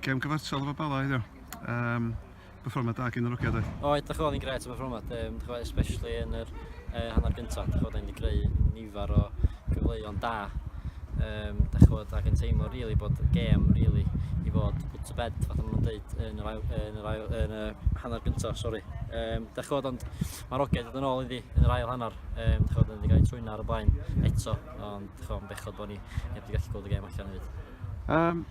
Gem gyfartal efo Bala heddiw. Um, performad da gen yr ogiad oedd. O, edrych oedd yn gret y performad, um, chwa, especially yn yr uh, hanner gyntaf. Dych chwad, wedi greu nifer o gyfleuon da. Um, dych chwad, ac yn teimlo really bod gem really i fod put to bed, fath o'n dweud, yn yr, ail, yn yr, ail, yn y hanner gyntaf, sori. Um, dych chwad, ond mae'r ogiad yn ôl iddi yn yr ail hanner. Um, dych chwad, wedi cael ei trwyna ar y blaen eto, ond dych chwad, bechod bod ni heb wedi gallu gweld y gem allan hefyd. Um,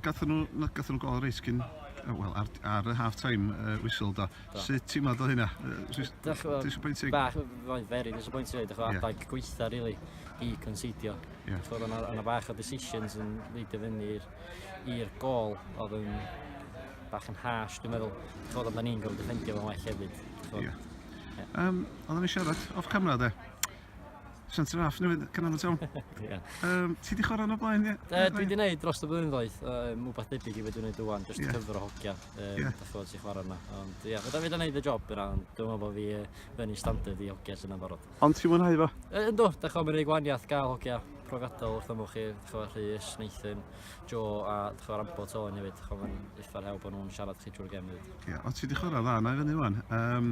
gathen nhw, na, gathen nhw gol reis cyn, wel, ar, ar y half-time uh, whistle do. do. Sut ti'n meddwl o hynna? Disappointing? Bach, roedd very disappointing, dych chi'n adeg yeah. gweitha, really, i considio. Yeah. Chod, o'na, o'na bach o decisions yn leidio fyny i'r gol, oedd yn bach yn harsh, dwi'n meddwl. Chod, oedd ni'n gofyn defendio fo'n well hefyd. Yeah. Yeah. Um, oedden ni siarad off camera, de? Siant yn raff, newid canolfan siawn. Ie. Um, ti di chwarae yno blaen, ie? Uh, dwi di wneud dros y blynyddoedd, uh, mwbath debyg i wedi wneud ywan, just yeah. cyfr o hogia, um, yeah. dach chi'n ti chwarae yna. Ond ie, yeah, fydda fi da wneud y job yna, ond dwi'n meddwl bod fi uh, fyny standard i hogia sy'n ambarod. Ond ti'n mwynhau fo? Uh, ynddo, dach chi'n mynd i gwaniath gael hogia profiadol wrth ymwch chi, dach chi'n Rhys, Nathan, Joe a dach chi'n Rambo Tony hefyd, dach chi'n eitha'r hew bod nhw'n siarad chi drwy'r gem hefyd. Ie, yeah, ond ti di chwarae dda, na i fyny ywan. Um,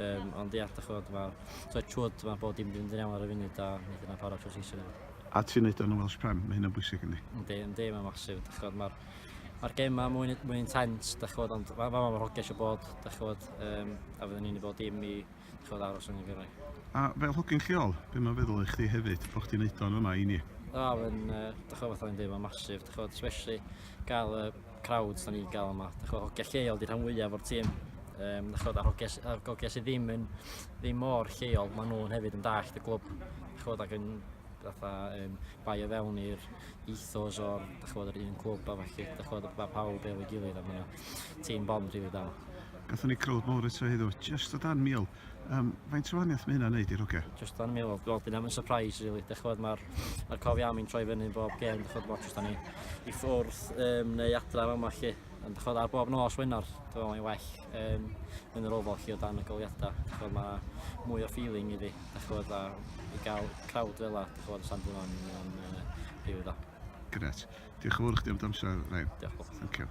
Um, ond ia, da chod, mae so chwyd, mae bod dim ddim yn iawn ar y funud a wneud yna parod trwy seisio hefyd. A ti'n neud o'n y Welsh Prem, mae hynna'n bwysig yndi? Yndi, yndi, mae'n masif, da chod, mae'r Mae'r gem yma mwy, mwy intens, da chod, ond mae ma, ma hoges o bod, da chod, um, a fydden ni'n ei bod dim i da chod, aros yn y gyrraedd. A fel hogyn lleol, be mae'n feddwl i chdi hefyd, bod chdi'n neud o'n yma i ni? O, mae'n, uh, da chod, fatha ni'n dweud, mae'n masif, da chod, especially gael uh, crowds da ni'n gael yma. Dych chi'n hogia lleol di rhan fwyaf o'r tîm. Um, dych chi'n hogia, hogia sydd ddim yn ddim mor lleol, maen nhw'n hefyd yn dallt y glwb. Dych chi'n ac yn fatha um, bai o fewn i'r ethos o'r dych chi'n yr un clwb a falle dych chi'n bod pawb efo'i gilydd a mae'n tîm bond rili da. Gatho ni crowd mawr eto heddiw, just o dan mil. Um, faint o waniaeth mae hynna'n neud i'r hogia? Just dan mi, wel, wel dyna mae'n surprise, really. Dech chod, mae'r ma cofi am i'n troi fyny yn bob gen, dech chod, wel, just dan ni i ffwrdd um, neu adra am yma, chi. Ond dech chod, ar bob nos wenar, dech chod, mae'n well um, yn yr ofal, chi, o dan y goliadau. Dech chod, mae mwy o feeling iddi, dech chod, a i gael crowd fel la, dech chod, San Dylan, yn uh, rhyw dda. Gret. Diolch yn fawr chdi am dy amser, Rhain. Diolch. Thank you.